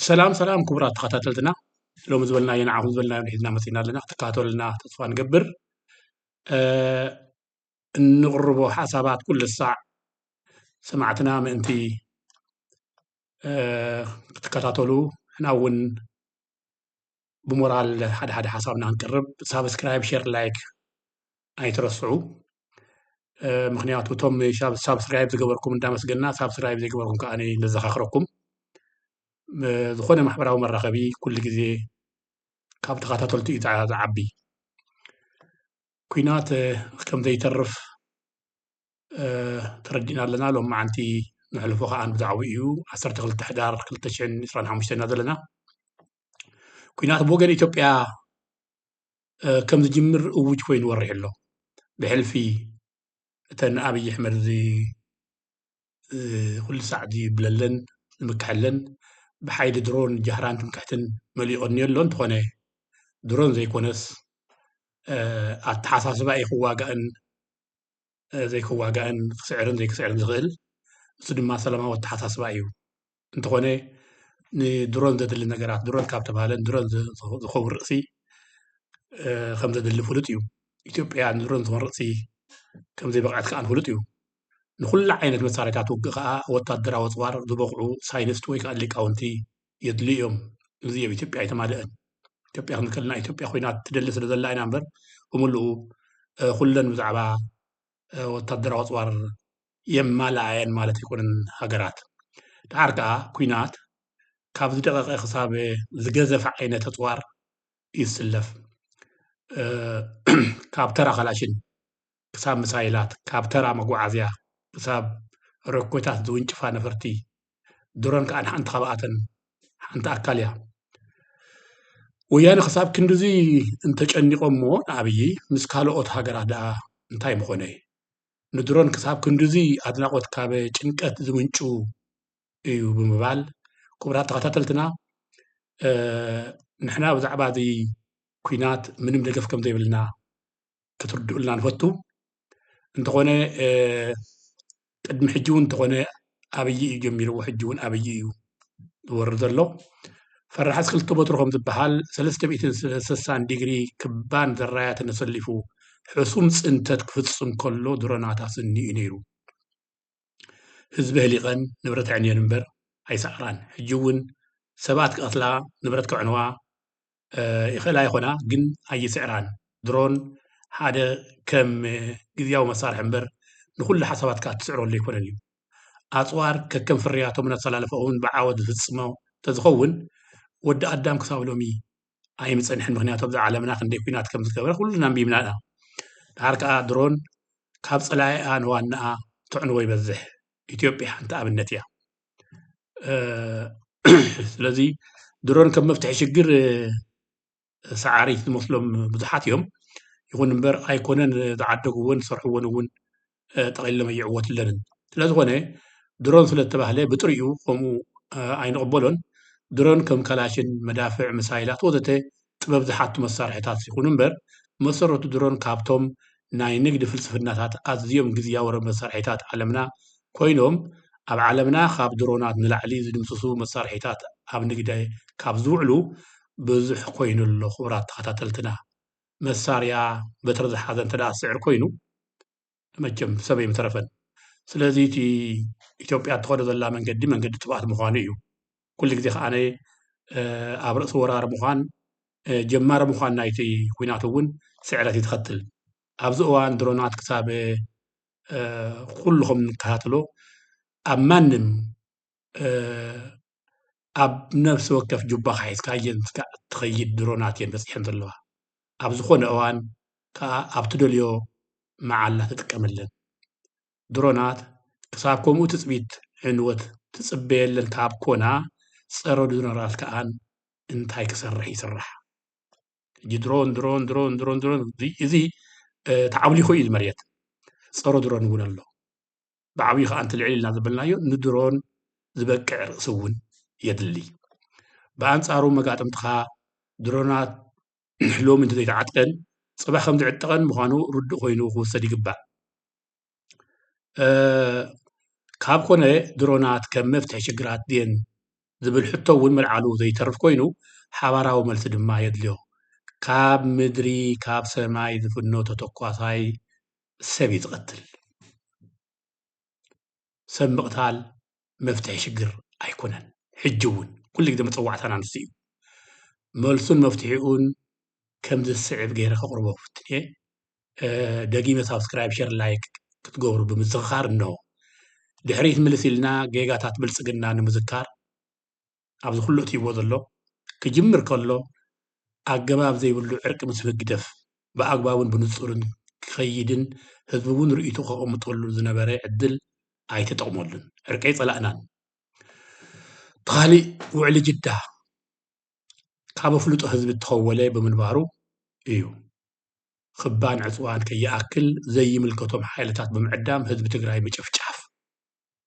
ሰላም ሰላም ክቡራት ተኸታተልትና ሎሚ ዝበልናዮ ንዓኹም ዝበልናዮ ሒዝና መፂና ኣለና ክትከታተሉና ተስፋ ንገብር እንቕርቦ ሓሳባት ኩሉ ሳዕ ሰማዕትና ምእንቲ ክትከታተሉ ንሕና እውን ብሞራል ሓደ ሓደ ሓሳብና ክንቅርብ ሳብስክራይብ ሸር ላይክ ኣይትረስዑ ምክንያቱ እቶም ሳብስክራይብ ዝገበርኩም እንዳመስገና ሳብስክራይብ ዘይገበርኩም ከዓ ነዘኻኽረኩም ዝኾነ ማሕበራዊ መራኸቢ ኩሉ ግዜ ካብ ተኸታተልቲ እዩ ዝዓቢ ኩናት ከም ዘይተርፍ ተረዲእና ኣለና ሎም መዓንቲ ንሕልፎ ከዓ ብዛዕባኡ እዩ 12 ሕዳር 225 ኢና ዘለና ኲናት ብወገን ኢትዮጵያ ከም ዝጅምር እዉጅ ኮይኑ ወሪሑ ኣሎ ብሕልፊ እተን ኣብይ ኣሕመድ ኩሉ ሳዕ ዝብለለን ዝምከሐለን ብሓይሊ ድሮን ጃህራን ትምክሕትን መሊኡ ቀንዮ ኣሎ እንተኾነ ድሮን ዘይኮነስ ኣተሓሳስባ እዩ ክዋጋእን ዘይክዋጋእን ክስዕርን ዘይክስዕርን ዝኽእል ንሱ ድማ ሰላማዊ ኣተሓሳስባ እዩ እንተኾነ ንድሮን ዘድሊ ነገራት ድሮን ካብ ተብሃለ ንድሮን ዝኸውን ርእሲ ከም ዘድሊ ፍሉጥ እዩ። ኢትዮጵያ ንድሮን ዝኮን ርእሲ ከም ዘይበቕዐት ከኣ ፍሉጥ እዩ። ንኹሉ ዓይነት መሳርሒታት ውግእ ከኣ ወታደራዊ ኣጽዋር ዝበቕዑ ሳይንስት ወይ ከኣ ሊቃውንቲ የድሊ እዮም። እዚ ኣብ ኢትዮጵያ ኣይተማልእን። ኢትዮጵያ ክንብል ከለና ኢትዮጵያ ኮይና ትደሊ ስለ ዘላ ኢና እምበር ብምልኡ ኩለን ብዛዕባ ወታደራዊ ኣፅዋር የማልኣ እየን ማለት ኣይኮነን ሃገራት ደሓር ከዓ ኩናት ካብ ዝደቀቀ ክሳብ ዝገዘፈ ዓይነት ኣፅዋር እዩ ዝስለፍ ካብ ተራ ካላሽን ክሳብ ምሳይላት ካብ ተራ መጓዓዝያ ክሳብ ሮኬታት ዝውንጭፋ ነፈርቲ ድሮን ከዓ ሓንቲ ካብኣተን ሓንቲ ኣካል እያ። ወያነ ክሳብ ክንድዚ እንተጨኒቖሞ ንኣብዪ ምስ ካልኦት ሃገራት ደኣ እንታይ ምኾነ? ንድሮን ክሳብ ክንድዚ ኣድናቖት ካብ ጭንቀት ዝምንጩ እዩ ብምባል ክቡራት ተኸታተልትና ንሕና ብዛዕባ እዚ ኲናት ምንም ደገፍ ከም ዘይብልና ክትርድኡልና ንፈቱ። እንተኾነ ቅድሚ ሕጂ እውን እንተኾነ ኣብይ እዩ ጀሚርዎ ሕጂ እውን ኣብይ እዩ ዝወርድ ዘሎ ፈራሕስ ክልተ በትሩ ከም ዝበሃል ሰለስተ ሚእትን ሰሳን ዲግሪ ክባን ዘራያትን ኣሰሊፉ ሕሱም ፅንተት ክፍፅም ከሎ ድሮናት ኣስኒ እዩ ነይሩ ህዝቢ ህሊቐን ንብረት ዕንየን እምበር ኣይሰዕራን ሕጂ እውን ሰባት ክቐትላ ንብረት ከዕንዋ ይኽእላ ይኾና ግን ኣይስዕራን። ድሮን ሓደ ከም ግዝያዊ መሳርሒ እምበር ንኹሉ ሓሳባትካ እትስዕረሉ ኣይኮነን እዩ። ኣጽዋር ከከም ፍርያቶምን ኣሰላልፋኦምን ብዓወት ዝፍጽሞ እንተዝኸውን ወዲ ኣዳም ክሳብ ሎሚ ኣይምጸንሐን ምኽንያቱ ኣብዛ ዓለምና ክንደይ ኩናት ከም ዝገበረ ኩልና ኣንቢብና ኢና። ደሓር ከኣ ድሮን ካብ ጸላኢኣ ንዋናኣ ተዕንዎ ይበዝሕ። ኢትዮጵያ ሓንቲ ኣብነት እያ። ስለዚ ድሮን ከም መፍትሒ ሽግር ሰዓሪ ዝመስሎም ብዙሓት እዮም ይኹን እምበር ኣይኮነን ዝዓደግዎን ዝሰርሕዎን እውን ጠቕሊሎም ኣይዕወትለንን ስለዝኾነ ድሮን ስለዝተባህለ ብጥሪኡ ከምኡ ኣይንቕበሎን ድሮን ከም ካላሽን መዳፍዕ ምሳይላት ወዘተ ጥበብ ዝሓቱ መሳርሒታት ይኹኑ እምበር፣ ብመሰረቱ ድሮን ካብቶም ናይ ንግዲ ፍልስፍናታት ኣዝዮም ግዝያዊ መሳርሒታት ዓለምና ኮይኖም፣ ኣብ ዓለምና ካብ ድሮናት ንላዕሊ ዝድምስሱ መሳርሒታት ኣብ ንግዲ ካብ ዝውዕሉ ብዙሕ ኮይኑ ኣሎ። ክቡራት ተኸታተልትና፣ መሳርያ በትሪ ዝሓዘ እንተድኣ ዝስዕር ኮይኑ፣ መቸም ሰብ ኣይምተረፈን። ስለዚ እቲ ኢትዮጵያ እትኸዶ ዘላ መንገዲ መንገዲ ጥፍኣት ምዃኑ እዩ። ኩሉ ግዜ ከኣነ ኣብ ርእሲ ወራር ምዃን ጀማሪ ምዃን ናይቲ ኩናት እውን ስዕረት እዩ ትኸትል። ኣብዚ እዋን ድሮናት ክሳብ ኩሉ ከም እንከታተሎ ኣብ ማንም ኣብ ነብሲ ወከፍ ጁባኻ ሒዝካ እየን ክሳዕ እትኸይድ ድሮናት እየን በጺሐን ዘለዋ። ኣብ ዝኾነ እዋን ከኣ ኣብ ትደልዮ መዓላ ትጥቀመለን። ድሮናት ክሳብ ከምኡ ትጽቢት ዕንወት ትጽበየለን ካብ ኮና ጸረ ድሮናት ከኣ እንታይ ክሰርሕ ይስራሕ። ሕጂ ድሮን ድሮን ድሮን ድሮን ድሮን እዚ ተዓብሊኹ እዩ እዚ መሬት። ጸረ ድሮን እውን ኣሎ። ብዓብዩ ከኣ እቲ ልዕል ኢልና ዘበልናዮ ንድሮን ዝበቅዕ ርእሲ እውን የድሊ። ብኣንጻሩ መጋጥምትኻ ድሮናት ሎሚ እንተዘይተዓጥቀን ጽባሕ ከም ዝዕጠቐን ምዃኑ ርዱእ ኮይኑ ክውሰድ ይግባእ። ካብ ኮነ ድሮናት ከም መፍትሒ ሽግራት ድየን ዝብል ሕቶ እውን መልዓሉ ዘይተርፍ ኮይኑ ሓባራዊ መልሲ ድማ የድልዮ። ካብ ምድሪ ካብ ሰማይ ዝፍኖ ተተኳሳይ ሰብ እዩ ዝቐትል። ሰብ ምቕታል መፍትሒ ሽግር ኣይኮነን። ሕጂ እውን ኩሉ ግዜ መጸዋዕታና ንሱ እዩ። መልሱን መፍትሒኡን ከምዚ ዝስዕብ ገይረ ከቕርቦ ክፍትን እየ። ደጊመ ሳብስክራይብ ሸር ላይክ ክትገብሩ ብምዝኽኻር እነሆ። ድሕሪት ምልስ ኢልና ጌጋታት ብልጽግና ንምዝካር ኣብዚ ኩሉ ኣትይዎ ዘሎ ክጅምር ከሎ ኣገባብ ዘይብሉ ዕርቂ ምስ ህግደፍ ብኣግባቡን ብንጹርን ክኸይድን ህዝቢ ውን ርእይትኡ ከቐምጠሉ ዝነበረ ዕድል ኣይተጠቕመሉን ዕርቂ ኣይጸላእናን እቲ ኻሊእ ውዕሊ ጅዳ ካብ ኣፍልጦ ህዝቢ እተኸወለ ብምንባሩ እዩ ኽባን ዕጽዋን ከይኣክል ዘይምልከቶም ሓይልታት ብምዕዳም ህዝቢ ትግራይ ምጭፍጫፍ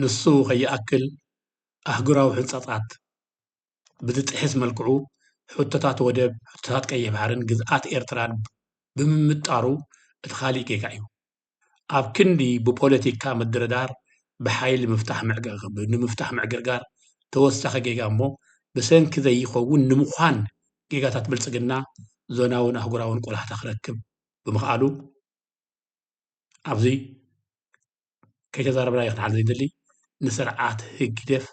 ንሱ ከይኣክል ኣህጉራዊ ሕንፃፃት ብዝጥሕስ መልክዑ ሕቶታት ወደብ፣ ሕቶታት ቀይሕ ባሕሪን ግዝኣት ኤርትራን ብምምጣሩ እቲ ካሊእ ጌጋ እዩ። ኣብ ክንዲ ብፖለቲካ ምድርዳር ብሓይሊ ንምፍታሕ ምዕግርጋር ተወሳኺ ጌጋ እሞ ብሰንኪ ዘይኸውን ንምዃን ጌጋታት ብልፅግና ዞናውን ኣህጉራውን ቆላሕታ ክረክብ ብምኽኣሉ ኣብዚ ከይተዛረብናዮ ክንሓልፍ ዘይንደሊ ንስርዓት ህግደፍ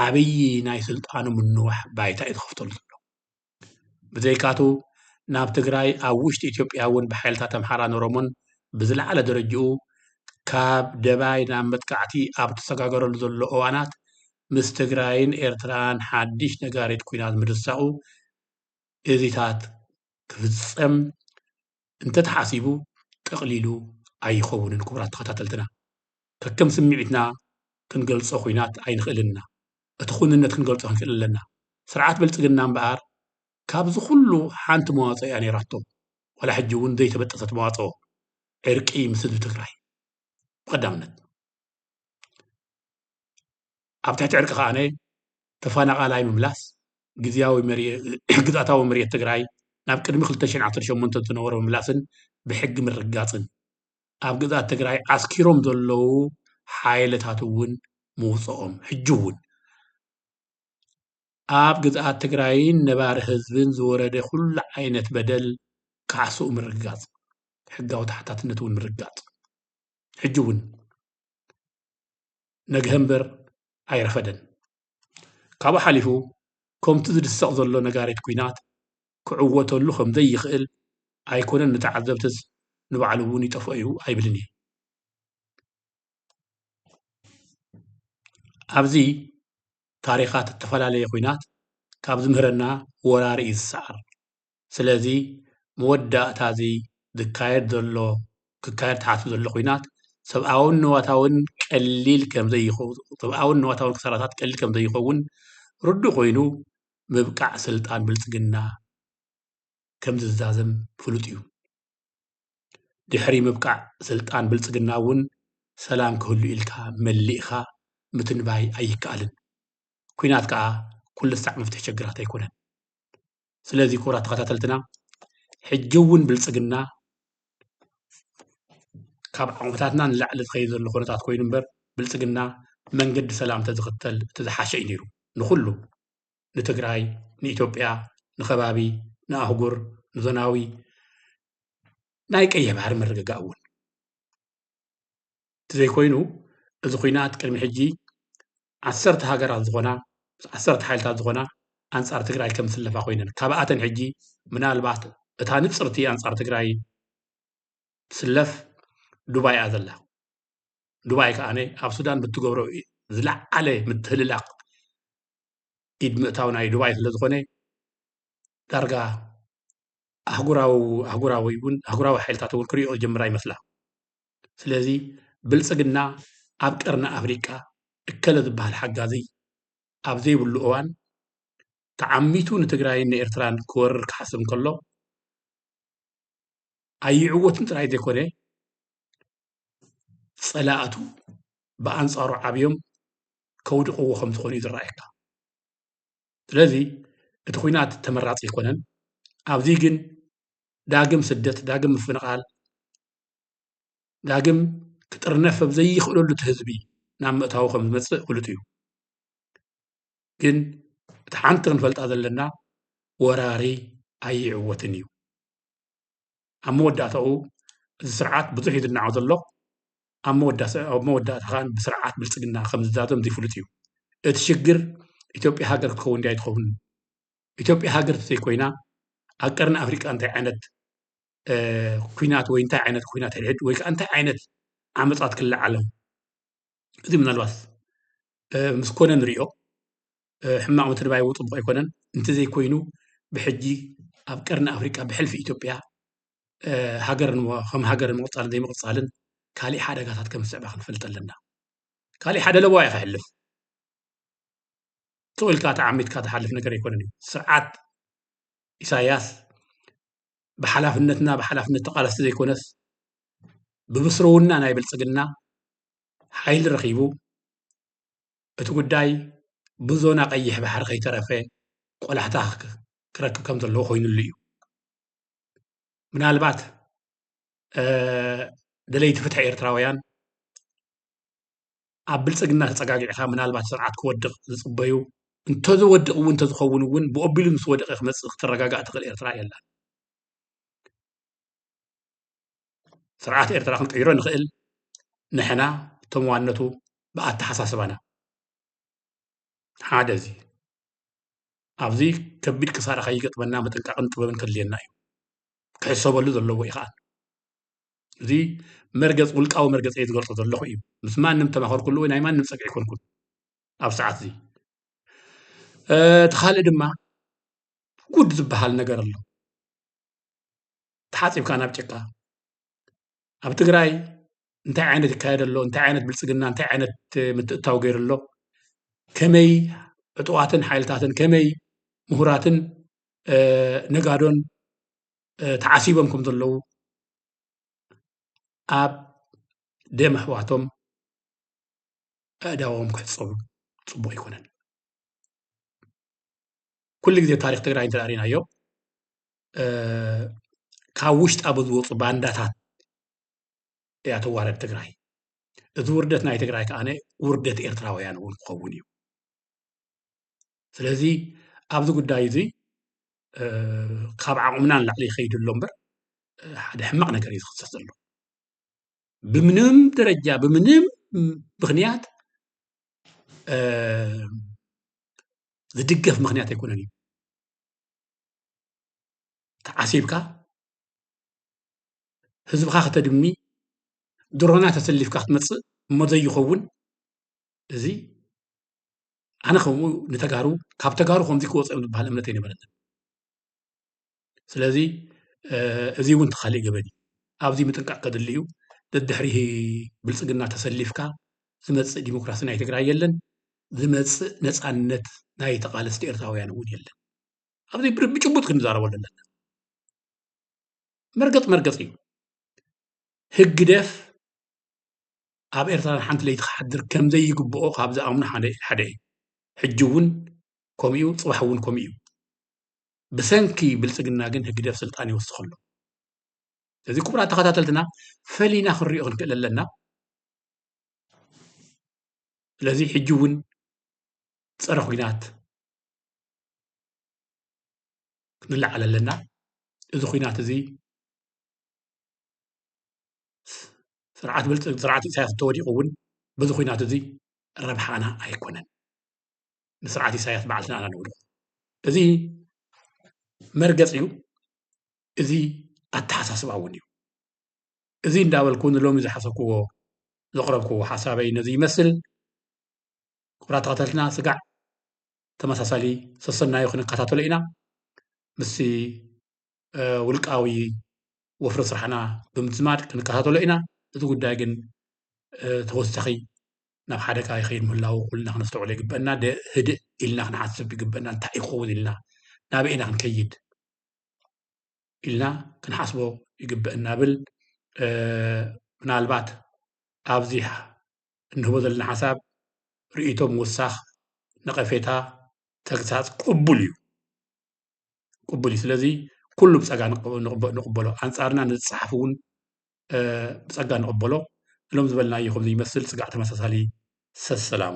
ዓብዪ ናይ ስልጣኑ ምንዋሕ ባይታ እዩ ዝኸፍተሉ ዘሎ። ብዘይካቱ ናብ ትግራይ ኣብ ውሽጢ ኢትዮጵያ እውን ብሓይልታት ኣምሓራን ኦሮሞን ብዝለዓለ ደረጅኡ ካብ ደባይ ናብ መጥቃዕቲ ኣብ እተሰጋገረሉ ዘሎ እዋናት ምስ ትግራይን ኤርትራን ሓድሽ ነጋሪት ኲናት ምድሳቑ እዚታት ክፍጸም እንተተሓሲቡ ጠቕሊሉ ኣይኸውንን ክቡራት ተኸታተልትና ከከም ስምዒትና ክንገልጾ ኩናት ኣይንኽእልን እና እቲ ኩንነት ክንገልጾ ክንክእል ኣለና ስርዓት ብልጽግና እምበኣር ካብዚ ኩሉ ሓንቲ መዋጽኦ እያ ነይራቶ ዋላ ሕጂ እውን ዘይተበጠሰት መዋጽኦ ዕርቂ ምስ ህዝቢ ትግራይ ብቐዳምነት ኣብ ትሕቲ ዕርቂ ከኣ ተፈናቓላይ ምምላስ፣ ግዝያዊ ግዝኣታዊ መሬት ትግራይ ናብ ቅድሚ ክልተ ሽሕን ዓሰርተ ሸሞንተን ዝነበሮ ምምላስን ብሕጊ ምርግጋፅን፣ ኣብ ግዝኣት ትግራይ ዓስኪሮም ዘለዉ ሓይልታት እውን ምውፀኦም፣ ሕጂ እውን ኣብ ግዝኣት ትግራይን ነባሪ ህዝብን ዝወረደ ኩሉ ዓይነት በደል ካሕስኡ ምርግጋፅ፣ ሕጋዊ ተሓታትነት እውን ምርግጋፅ፣ ሕጂ እውን። ነግሀ እምበር ኣይረፈደን። ካብኡ ሓሊፉ ኮምቲ ዝድሰቕ ዘሎ ነጋሪት ኩናት ክዕወተሉ ከምዘይኽእል ኣይኮነን ንተዓዘብትስ ንባዕሉ እውን ይጠፍኦ እዩ ኣይብልን እየ። ኣብዚ ታሪኻት እተፈላለየ ኩናት ካብ ዝምህረና ወራር እዩ ዝሰዓር። ስለዚ መወዳእታ እዚ ዝካየድ ዘሎ ክካየድ ተሓሲቡ ዘሎ ኹናት ሰብኣውን ንዋታውን ቀሊል ከምዘይኸውን ሰብኣውን ንዋታውን ክሳራታት ቀሊል ከምዘይኸውን ርዱእ ኮይኑ ምብቃዕ ስልጣን ብልፅግና ከምዝዛዘም ፍሉጥ እዩ። ድሕሪ ምብቃዕ ስልጣን ብልፅግና እውን ሰላም ክህሉ ኢልካ መሊእኻ ምትንባይ ኣይከኣልን። ኲናት ከዓ ኩሉ ሳዕ መፍትሒ ሸግራት ኣይኮነን። ስለዚ ክቡራት ተኸታተልትና ሕጂ እውን ብልፅግና ካብ ዓቕምታትና ንላዕሊ ዝኸይድ ዘሎ ኩነታት ኮይኑ እምበር ብልፅግና መንገዲ ሰላም ተዝኽተል እቲ ዝሓሸ እዩ ነይሩ ንኩሉ ንትግራይ ንኢትዮጵያ ንከባቢ ንኣህጉር ንዞናዊ ናይ ቀይሕ ባሕሪ ምርግጋእ እውን እንተዘይኮይኑ እዚ ኹናት ቅድሚ ሕጂ ዓሰርተ ሃገራት ዝኾና ዓሰርተ ሓይልታት ዝኾና ኣንጻር ትግራይ ከም ዝስለፋ ኮይነን ካብኣተን ሕጂ ምናልባት እታ ንጽርቲ ኣንጻር ትግራይ ትስለፍ ዱባይ እያ ዘላ ዱባይ ከኣነ ኣብ ሱዳን ብትገብሮ ዝለዓለ ምትህልላቕ ኢድ ምእታው ናይ ዱባይ ስለ ዝኾነ ዳርጋ ኣህጉራዊ ኣህጉራዊ እውን ኣህጉራዊ ሓይልታት እውን ክሪኦ ጀምራ ይመስላ ስለዚ ብልፅግና ኣብ ቀርኒ ኣፍሪቃ እከለ ዝበሃል ሓጋዚ ኣብ ዘይብሉ እዋን ተዓሚቱ ንትግራይን ንኤርትራን ክወርር ክሓስብ እንከሎ ኣይዕወትን ጥራይ ዘይኮነ ፀላእቱ ብኣንፃሩ ዓብዮም ከውድቕዎ ከም ዝኾኑ እዩ ዝረኣየካ። ስለዚ እቲ ኩናት ተመራፂ ኣይኮነን። ኣብዚ ግን ዳግም ስደት፣ ዳግም ምፍንቓል፣ ዳግም ክጥርነፍ ኣብ ዘይኽእለሉ እቲ ህዝቢ ናብ ምእታዉ ከም ዝመጽእ ፍሉጥ እዩ። ግን እቲ ሓንቲ ክንፈልጣ ዘለና ወራሪ ኣይዕወትን እዩ። ኣብ መወዳእታኡ እዚ ስርዓት ብዙሕ እዩ ዝናዖ ዘሎ ኣብ መወዳእታ ከዓ ብስርዓት ብልፅግና ከም ዝዛዘም ዘይፍሉጥ እዩ። እቲ ሽግር ኢትዮጵያ ሃገር ክትከውን ድያ ኣይትኸውንን? ኢትዮጵያ ሃገር ተዘይኮይና ኣብ ቀርኒ ኣፍሪቃ እንታይ ዓይነት ኩናት ወይ እንታይ ዓይነት ኩናት ሕድሕድ ወይ ከዓ እንታይ ዓይነት ዓመፃት ክለዓሎም እዚ ምናልባት ምስ ኮነ ንሪኦ ሕማቕ ምትንባይ እውን ፅቡቕ ኣይኮነን እንተዘይኮይኑ ብሕጂ ኣብ ቀርኒ ኣፍሪቃ ብሕልፊ ኢትዮጵያ ሃገር ከም ሃገር ምቕፃልን ዘይምቕፃልን ካሊእ ሓደጋታት ከም ዝስዕባ ክንፈልጥ ኣለና ካሊእ ሓደ ለበዋ እዩ ክሕልፍ ጥቕ ኢልካ ተዓሚትካ ትሓልፍ ነገር ኣይኮነን እዩ ስርዓት ኢሳያስ ብሓላፍነትና ብሓላፍነት ተቓለስቲ ዘይኮነስ ብብስረውና ናይ ብልፅግና ሓይሊ ረኺቡ እቲ ጉዳይ ብዞና ቀይሕ ባሕሪ ከይተረፈ ቆላሕታ ክረክብ ከም ዘለዎ ኮይኑሉ እዩ ምናልባት ደለይቲ ፍትሒ ኤርትራውያን ኣብ ብልፅግና ተፀጋጊዕኻ ምናልባት ስርዓት ክወድቕ ዝፅበዩ እንተዝወድቕ እውን እንተዝኸውን እውን ብኦቢሉ ምስ ወደቐ ክመፅእ ክትረጋጋእ ትኽእል ኤርትራ የላን። ስርዓት ኤርትራ ክንቅይሮ ንኽእል ንሕና እቶም ዋነቱ ብኣተሓሳስባና ሓደ እዚ ኣብዚ ከቢድ ክሳራ ከይገጥመና ምጥንቃቕን ጥበብን ከድልየና እዩ ክሕሰበሉ ዘለዎ እዩ ከዓ እዚ መርገፅ ውልቃዊ መርገፂ እየ ዝገልፆ ዘለኹ እዩ ምስ ማንም ተማኸርኩሉ ወይ ናይ ማንም ፀግዒ ኮንኩን ኣብ ሰዓት እዚ እቲ ካልእ ድማ ጉድ ዝበሃል ነገር ኣሎ ተሓፂብካ ናብ ጭቃ ኣብ ትግራይ እንታይ ዓይነት ይካየድ ኣሎ እንታይ ዓይነት ብልፅግና እንታይ ዓይነት ምትእታው ገይሩ ኣሎ ከመይ ዕጡዋትን ሓይልታትን ከመይ ምሁራትን ነጋዶን ተዓሲቦም ከም ዘለዉ ኣብ ደም ኣሕዋቶም ኣእዳዎም ክሕጸቡ ጽቡቕ ኣይኮነን። ኩሉ ግዜ ታሪኽ ትግራይ እንተ ርኢናዮ ካብ ውሽጣ ብዝወፁ ባንዳታት እያ ተዋረድ ትግራይ። እዚ ውርደት ናይ ትግራይ ከዓነ ውርደት ኤርትራውያን እውን ክኸውን እዩ። ስለዚ ኣብዚ ጉዳይ እዚ ካብ ዓቕምና ንላዕሊ ይኸይድ ኣሎ እምበር ሓደ ሕማቕ ነገር እዩ ዝኽሰት ዘሎ ብምንም ደረጃ ብምንም ምክንያት ዝድገፍ ምክንያት ኣይኮነን እዩ ተዓሲብካ ህዝብኻ ከተድሚ ድሮና ተሰሊፍካ ክትመፅእ እሞ ዘይኸውን እዚ ኣነ ከምኡ ንተጋሩ ካብ ተጋሩ ከምዚ ክወፅ እዮም ዝበሃል እምነት ኣይነበረንን ስለዚ እዚ እውን ተካሊእ ገበን እዩ ኣብዚ ምጥንቃቅ ከድሊ እዩ ደድሕሪ ብልፅግና ተሰሊፍካ ዝመፅእ ዲሞክራሲ ናይ ትግራይ የለን ዝመፅእ ነፃነት ናይ ተቃለስቲ ኤርትራውያን እውን የለን ኣብዚ ብጭቡጥ ክንዛረበሉ ኣለና መርገፅ መርገፅ እዩ ህግደፍ ኣብ ኤርትራ ንሓንቲ ለይቲ ክሓድር ከም ዘይግብኦ ካብ ዝኣምኑ ሓደ እዩ። ሕጂ እውን ከምኡ'ዩ ጽባሕ እውን ከምኡ እዩ። ብሰንኪ ብልጽግና ግን ህግደፍ ስልጣን ይወስኽ ኣሎ። ስለዚ ክቡራት ተኸታተልትና ፈሊና ክንሪኦ ክንክእል ኣለና። ስለዚ ሕጂ እውን ፀረ ኩናት ክንለዓል ኣለና እዚ ኩናት እዚ ስርዓት ኢሳያስ እንተወዲቁ እውን በዚ ኩናት እዚ ረብሓና ኣይኮነን ንስርዓት ኢሳያስ ባዕልና ኢና ነውድቆ እዚ መርገፂ እዩ እዚ ኣተሓሳስባ እውን እዩ እዚ እንዳበልኩ ንሎሚ ዝሓሰብክዎ ዘቕረብክዎ ሓሳበይ ነዚ ይመስል ክቡራት ተኸታተልና ስጋዕ ተመሳሳሊ ሰሰናዩ ክንከታተሎ ኢና ምስ ውልቃዊ ወፍሪ ስራሕና ብምዝማድ ክንከታተሎ ኢና። እዚ ጉዳይ ግን ተወሳኺ ናብ ሓደጋ ይኸይድ ምህላዉ ኩልና ክነስተውዕሎ ይግበአና። ህድእ ኢልና ክንሓስብ ይግበአና። እንታይ እዩ ክኸውን ኢልና ናበይ ኢና ክንከይድ ኢልና ክንሓስቦ ይግበአና ብል ምናልባት ኣብዚ እንህቦ ዘለና ሓሳብ ርእይቶ ምውሳኽ፣ ነቐፌታ፣ ተግሳጽ ቅቡል እዩ። ቅቡል እዩ ስለዚ ኩሉ ብፀጋ ንቕበሎ ኣንፃርና ንዝፀሓፍ እውን ብፀጋ ንቕበሎ እሎም ዝበልናዮ ከምዚ ይመስል ስጋዕ ተመሳሳሊ ሰሰላሙ